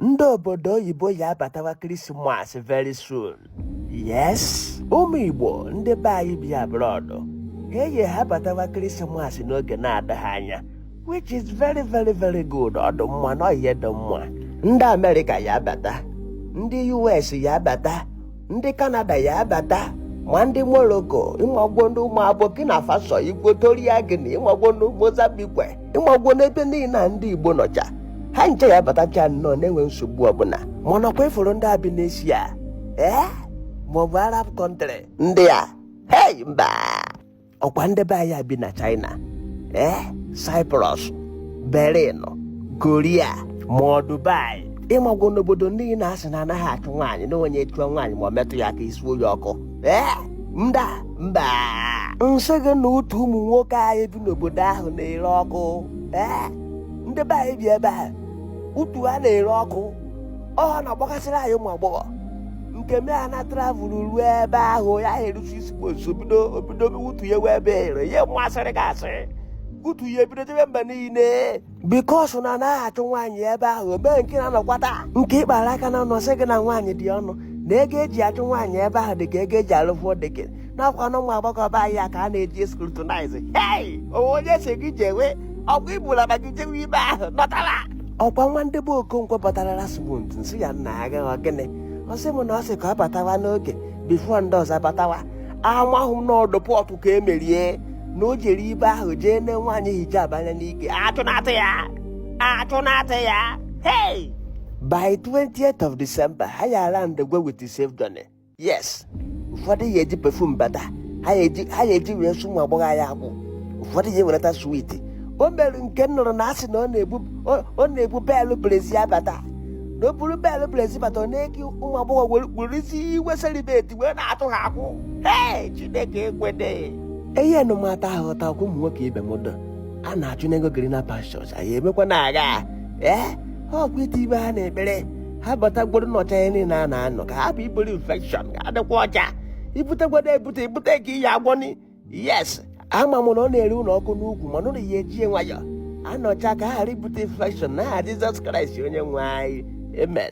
ndị obodo oyibo ya abatawa christmas very soon yes ụmụ igbo ndị be anyị bi abroad ha eyi ha batawa christmas n'oge na-adịghị anya which is very very very good ọ dụ mma na ọ ihe dị mma ndị america ya abata ndị us ya abata ndị canada ya abata ma ndị morocco ịmagwo ndị ụmụ burkina faso equatorial guinea ịmagwo ndị mozambique ịmagwo n'ebe niile a ndị igbo nọcha ha ncha ya abatacha nnọọ na-enwe nsogbu ọbụla mana ọkwa ị fụrụ ndị a bi n'asia ee maọbụ arab country ndị a hei mba ọkwa ndị be anyị bi na China ee eh? Cyprus Berlin Korea ma ọ Dubai ịmagwo n'obodo ndị na asị na anaghị achụ nwaanyị na onye chụọ nwaanyị ma ọ metụ ya aka esuo ya ọkụ ee eh? mba mba nsị gị na utu ụmụ nwoke anyị bi n'obodo ahụ na-ere ọkụ ee eh? ndị be anyị bi ebe a utu ha na-ere ọkụ ọ na-agbagasịrị anyị ụmụ agbọghọ nke me a na travel ruo ebe ahụ ya eru six months bido obido utu ya wee ebe ere ya m sịrị gị asị utu ya ebido debe mba niile because na anaghị achụ nwaanyị ebe ahụ mee nke na-anọkwata nke ị kpara aka na ọnụ sị gị na nwaanyị dị ọnụ na ego eji achụ nwaanyị ebe ahụ dị ka ego eji alụ four deck n'ọkwa na ụmụ agbọghọ be anyị a ka a na-eji scrutinize hei onwe onye si gị jewe ọkwa ibula ma gị jewe ibe ahụ nọtara ọkwa nwa ndị be okonkwo batara last month nsị ya nna ya gaghị ọ gịnị ọ sị m na ọ sị ka ọ batawa n'oge before ndị ọzọ batawa amahụ m na ọ deport ka e mere ya na o jere ibe ahụ jee ne nwaanyị hijab anya n'ike achụnata ya achụnata ya hei by 20th of december ha ya alandigwo with safe journey yes ụfọdụ ya eji perfume bata ha ya eji wee sụ ụmụ agbọghọ anyị akwụ ụfọdụ ya ewereta sweet o nwere nke m nụrụ na asị na ọ na-ebu belụ brezi abata na o buru belụ brezi bata ọ na-eke ụmụ agbọghọ were bụrụzie celebrity wee na-atụ ha akwụ ee chineke ekwede eyi anụmata ahụ ọta ọkwa ụmụ nwoke ibe m dọ a na-achụ n'ego greener pastures anyị emekwa na-aga ee ọkwa itibe ha n'ekpere ha batagodu nọcha ihe niile a na-anọ ka hapụ iburu infection ka ha dịkwa ọcha ibutegodu ebute ibute nke ị ya agwọni yes ama m na ọ na-ere ụnụ ọkụ n'ukwu mana ụnụ ya ejie nwayọ anọcha ka ha ghara ibute infection na aha jizọs kraịst onye nwe anyị amen